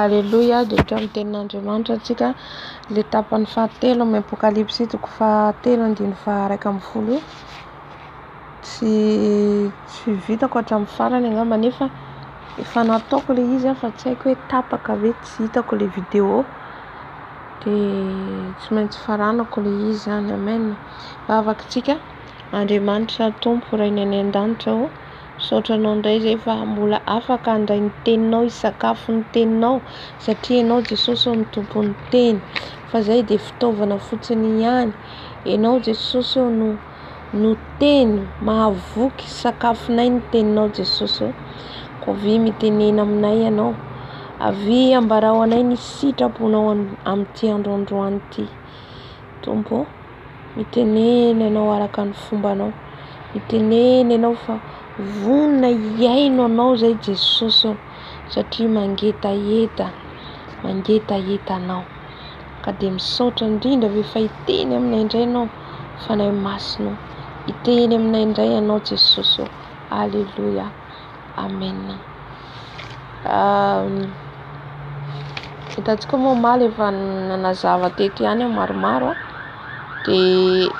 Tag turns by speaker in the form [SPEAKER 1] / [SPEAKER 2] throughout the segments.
[SPEAKER 1] Aleloia, dia hatramin'ny tenin'Andriamanitra antsika ilay tapany fahatelo amin'ny Apokalypsy toko fahatelo andininy faharaika ambin'ny folo io. Tsy tsy vitako hatramin'ny farany angamba nefa efa nataoko ilay izy fa tsy haiko hoe tapaka ve tsy hitako ilay vidéo dia tsy maintsy faranako ilay izy zany amen. Vavaka tsika, Andriamanitra Tompo Rainay any an-danitra ô. Misaotra anao indray izay fa mbola afaka handray ny teninao, hisakafo ny teninao satria ianao Jesosy ô no tompon'ny teny fa izay dia fitaovana fotsiny ihany. Ianao Jesosy ô no no teny mahavoky, sakafonay ny teninao Jesosy ô. Koa avia mitenena aminay ianao, avia ambarao anay ny sitraponao amin'ity andro androany ity Tompo ô. Mitenena ianao araka ny fombanao. Mitenena ianao fa vonona hihaino anao izay Jesosy ô, satria mangetaheta, mangetaheta anao. Ka dia misaotra indrindra ve fa hiteny aminay indray ianao, Fanahy Masina ô. Hiteny aminay indray ianao Jesosy ô. Aleloia. Amena. Hitantsika moa omaly efa nanazava teto ihany aho maromaro a dia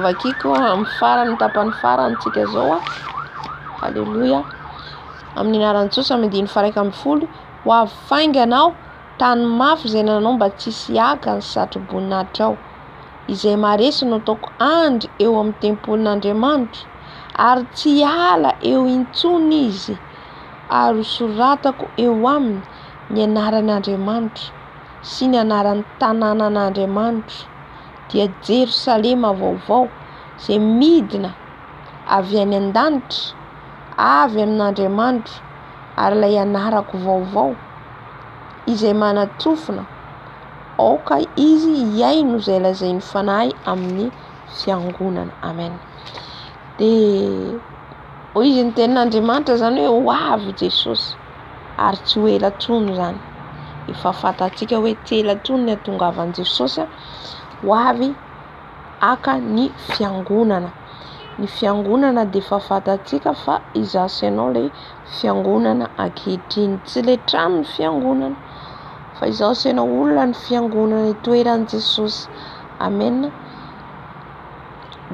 [SPEAKER 1] vakiko amin'ny farany tapany farany tsika zao aleloia amin'ny anaran'i Jesosy amin'ny andininy faha iraika ambin'ny folo ho avy faingana aho tany mafy izay nanao mba tsy hisy hiaka ny satroboninahitra ao izay maharesy no ataoko andry eo amin'ny tempolin'Andriamanitro ary tsy hiala eo intsony izy ary ho soratako eo aminy ny anaran' Andriamanitro sy ny anaran' ny tanànan' Andriamanitro, dia Jerosalema vaovao izay midina avy any an-danitra, avy amin' Andriamanitro, ary ilay anarako vaovao, izay manatrofona, aoka izy hihaino izay lazain'ny Fanahy amin'ny fiangonana. Amena. Dia. Hoy izy, Ny Tenin'Andriamanitra izany hoe ho avy i Jesosy, ary tsy ho ela intsony izany. Efa fantatsika hoe tsy ela intsony ny hatongavan'i Jesosy ho avy haka ny fiangonana. Ny fiangonana dia efa fantatsika fa izaho sy ianao ilay fiangonana ankehitriny. Tsy ilay trano ny fiangonana, fa izaho sy ianao olona ny fiangonana itoeran'i Jesosy. Amena.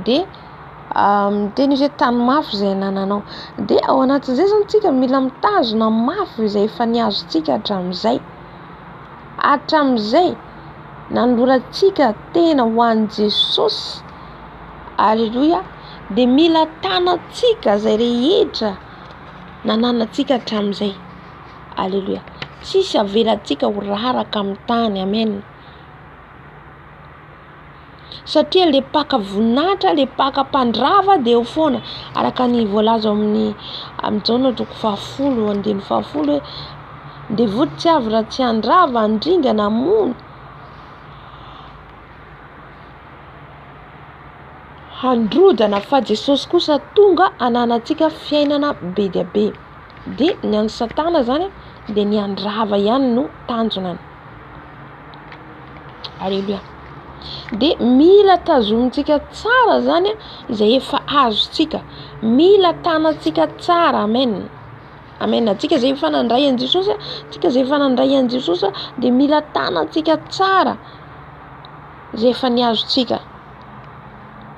[SPEAKER 1] Dia. miteny hoe tano mafy izay anananao dia ao anatin'izay izany tsika mila mitazona mafy izay efa niazontsika hatramin'izay hatramin'izay nanolorantsika tena ho an'i Jesosy aleloia dia mila tanantsika izay rehetra nananantsika hatramin'izay aleloia tsisy avelantsika ho raraka amin'ny tany amena satria le mpaka voninahitra le mpaka mpandrava de eo foana araka ny voalaza ao amin'ny amin'izao ny androko fahafolo andiny fahafolo hoe devoly tsy avy raha tsy handrava handringana hamono handrodana fa Jesosy kosa tonga hananantsika fiainana be dia be de ny an'i satana zany dia ny handrava ihany no tanjonany Aleloia. Dia mila tazomintsika tsara zany izay efa azontsika. Mila tanantsika tsara. Amen. Amen. Antsika izay efa nandray an'i Jesosy, antsika izay efa nandray an'i Jesosy dia mila tanantsika tsara izay efa ny azontsika.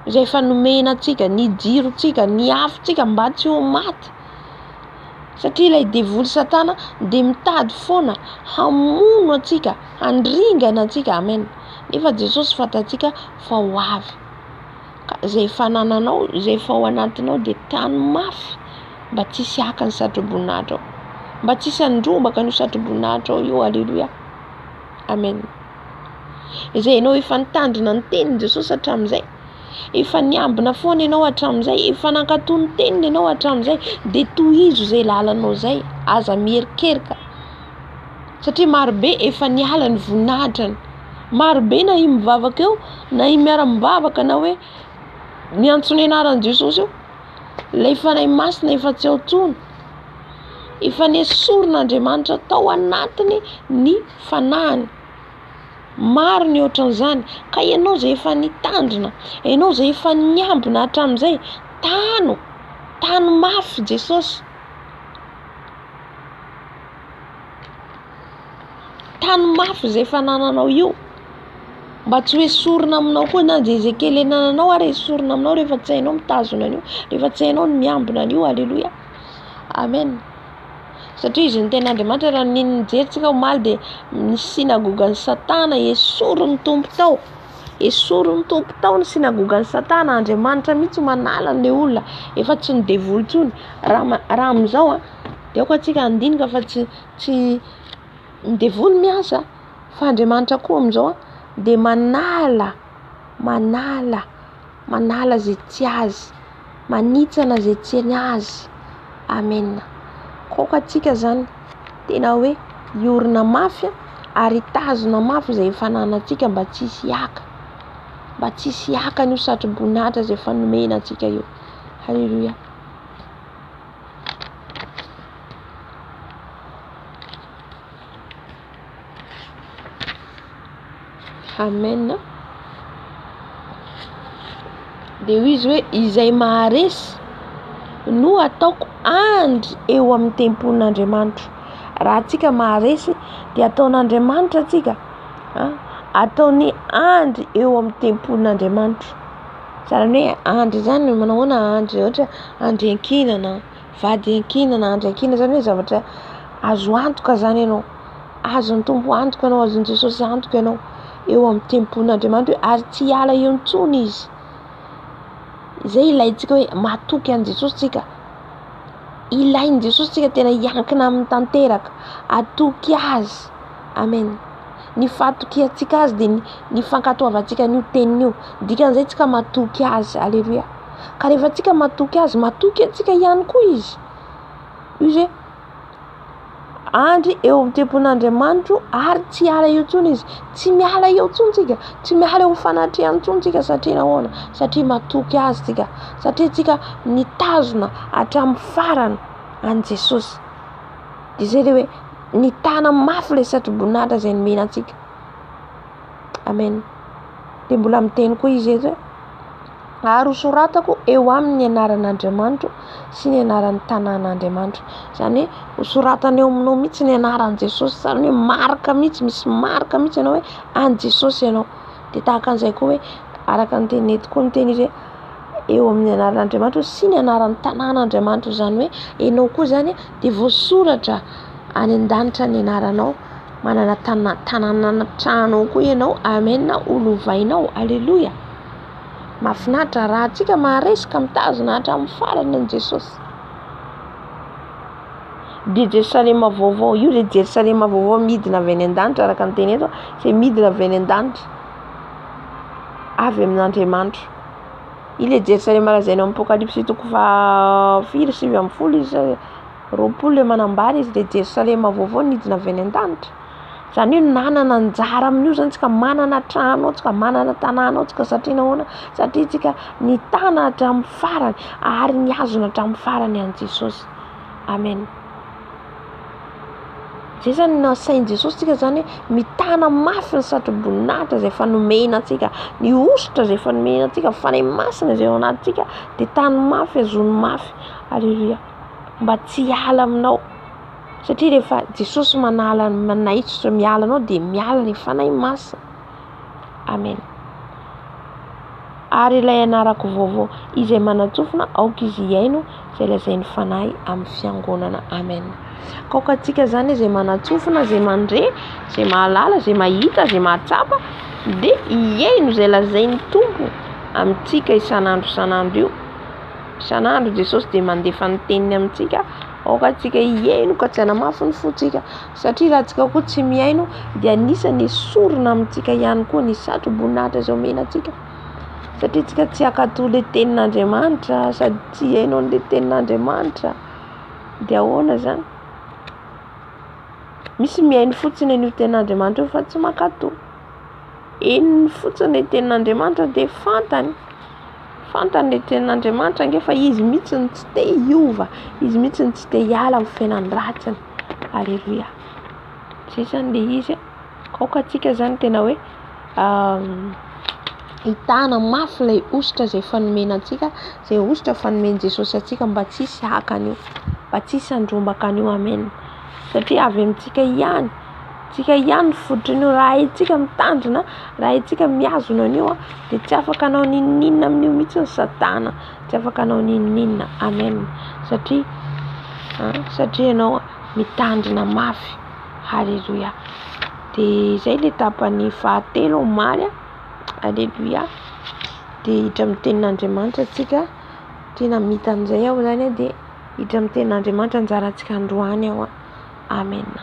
[SPEAKER 1] Izay efa nomena antsika, ny jirontsika, ny afontsika mba tsy ho maty. satria ilay devoly satana dia mitady foana hamono antsika handringana antsika amen nefa jesosy fantatsika fa ho avy ka izay fanananao izay fao anatinao dia tano mafy mba tsy hisy haka ny satroboninahitrao mba tsy hisy handrombaka ny satroboninahitrao io aleloia amen izay ianao efa nitandrina ny teniny jesosy hatramin'izay Efa niambina foana ianao hatramin'izay, efa nankatò ny teniny ianao hatramin'izay, dia tohizo izay lalanao izay, aza miherikerika satria marobe efa niala ny voninahitrany, marobe na i mivavaka eo na i miara-mivavaka na hoe miantso ny anaran'i Jesosy eo, ilay Fanahy Masina efa tsy ao intsony, efa nesorin'Andriamanitra tao anatiny ny fanahiny. Maro ny ohatran'izany. Ka ianao izay efa nitandrina, ianao izay efa niambina hatramin'izay, tano, tano mafy Jesosy. Tano mafy izay fanananao io, mba tsy ho esorina aminao koa na dia izay kely anananao ary esorina aminao rehefa tsy hainao mitazona an'io, rehefa tsy hainao ny miambina an'io. Aleloia, Amen. Satria izy no tena Andriamanitra raha ny nijery tsika omaly dia ny synagogan'i satana esorin'ny Tompo tao esorin'ny Tompo tao ny synagogan'i satana Andriamanitra mihitsy manala an'le olona efa tsy ny devoly intsony raha ma- raha amin'izao a dia aoka tsika handinika fa tsy tsy ny devoly miasa fa Andriamanitra koa amin'izao dia manala manala Manala ze tsy azy. Manitsana ze tsy ny azy. Amen. Kok antsika zany tena hoe hiorina mafy ary hitazona mafy izay efa ananantsika mba tsy hisy hiaka. Mba tsy hisy hiaka an'io satroboninahitra izay efa nomena antsika io. Haleloia. Amen a. Dia hoy izy hoe izay maharesy no ataoko andry eo amin'ny tempolin'Andriamanitro. Raha antsika maharesy dia ataon'Andriamanitra antsika a ataony andry eo amin'ny tempolin'Andriamanitro. Zany hoe andry zany manao ahoana andry ohatra hoe andry iankinana. Vady iankiana na andry iankiana izany hoe zavatra azo antoka izany ianao, azon'ny Tompo antoka ianao, azon'i Jesosy antoka ianao eo amin'ny tempon'Andriamanitra hoe ary tsy hiala eo intsony Izy. Izay ilaintsika hoe matoky an'i Jesosy tsika. Ilain'i Jesosy tsika tena hiankina aminy tanteraka, atoky Azy. Amen. Ny fatokiantsika Azy dia ny fankatoavantsika an'io teniny io. Dikan'izay tsika matoky Azy. Aleloia. Ka rehefa antsika matoky azy, matoky antsika ihany koa izy. Izy andry eo amin'ny tempolin'Andriamanitro ary tsy hiala eo intsony izy. Tsy miala eo intsony tsika, tsy miala eo fanatrehany intsony tsika satria nahoana? Satria matoky azy tsika, satria tsika nitazona hatramin'ny farany an'i Jesosy. Dia izay le hoe nitana mafy ilay satroboninahitra izay nomena antsika. Amen. Dia mbola miteny koa izy eto hoe. ary ho soratako eo aminy ny anaran'Andriamanitro sy ny anaran'ny tanàn'Andriamanitro. Izany hoe ho soratana eo aminao mihitsy ny anaran'i Jesosy, izany hoe marika mihitsy, misy marika mihitsy ianao hoe an'i Jesosy ianao. Dia tahaka an'izay koa hoe araka ny tenin'i Nety koa ny teny hoe eo amin'ny anaran'Andriamanitro sy ny anaran'ny tanàn'Andriamanitro, izany hoe ianao koa izany dia voasoratra any an-danitra ny anaranao, manana tanàna an-trano ao koa ianao. Amena, ho lovainao. Aleloia. Mahafinaritra raha antsika maharesy ka mitazona hatramin'ny farany an'i Jesosy. Dia Jerosalema vaovao, io dia Jerosalema vaovao midina avy any an-danitra araka ny teny eto, izay midina avy any an-danitra, avy amin'Andriamanitra. Ilay Jerosalema lazaina amin'ny Apokalypsy toko faha firy sivy ambin'ny folo izy roapolo ilay manambara izy dia Jerosalema vaovao nidina avy any an-danitra. Izany hoe nanana anjara amin'io izany isika, manana trano ao isika, manana tanàna ao isika satria nahoana? Satria isika nitana hatramin'ny farany ary nihazona hatramin'ny farany an'i Jesosy. Amen. Izay izany no nasain'i Jesosy isika izany hoe mitana mafy ny satroboninahitra izay efa nomena antsika, ny hosotra izay efa nomena antsika, ny Fanahy Masina izay ao anatintsika dia tano mafy, azony mafy. Aleloia. Mba tsy hiala aminao. Satria rehefa Jesosy manala ny manaitsotra miala anao dia miala ilay fanahy masina. Amen. Ary ilay anarako vaovao izay manantsofina aoka izy hiaino izay lazain'ny fanahy amin'ny fiangonana. Amen. Kaoka antsika izany izay manantsofina, izay mandre, izay mahalala, izay mahita, izay mahatsapa dia hiaino izay lazain'ny Tompo amintsika isan'andro isan'andro io. Isan'andro Jesosy dia mandefa ny teniny amintsika. Aoka antsika hihaino ka tsy hanamafy ny fontsika, satria raha antsika koa tsy mihaino dia anisany esorina amintsika ihany koa ny satroboninahitra izay omena antsika. Satria antsika tsy hankato ilay tenin'Andriamanitra sady tsy hihaino an'ilay tenin'Andriamanitra dia ahoana izany? Misy mihaino fotsiny an'io tenin'Andriamanitra io fa tsy mankato. Henony fotsiny ilay tenin'Andriamanitra dia fantany. Fantany le tenin'Andriamanitra ange fa izy mihitsy no tsy te hiova, izy mihitsy no tsy te hiala amin'ny fiainan-dratsiny. Aleloia. Zay zany le izy a. Aoka antsika zany tena hoe hitana mafy ilay hosotra izay efa nomena antsika, izay hosotra efa nomen'i Jesosy antsika mba tsy hisy haka an'io, mba tsy hisy handrombaka an'io. Amena. Satria avy amintsika ihany. Tsika ihany no fototrin'io raha haintsika mitandrina raha haintsika mihazona an'io dia tsy afaka hanao n'inon'inona amin'io mihitsy ny satana tsy afaka hanao n'inon'inona amen satria satria ianao mitandrina mafy haleloia dia izay le tapany fahatelo omaly aleloia dia hiditra amin'ny tenin'Andriamanitra tsika tena mita an'izay aho zany dia Hiditra amin'ny tenin' Andriamanitra anjarantsika androany aho. Amena.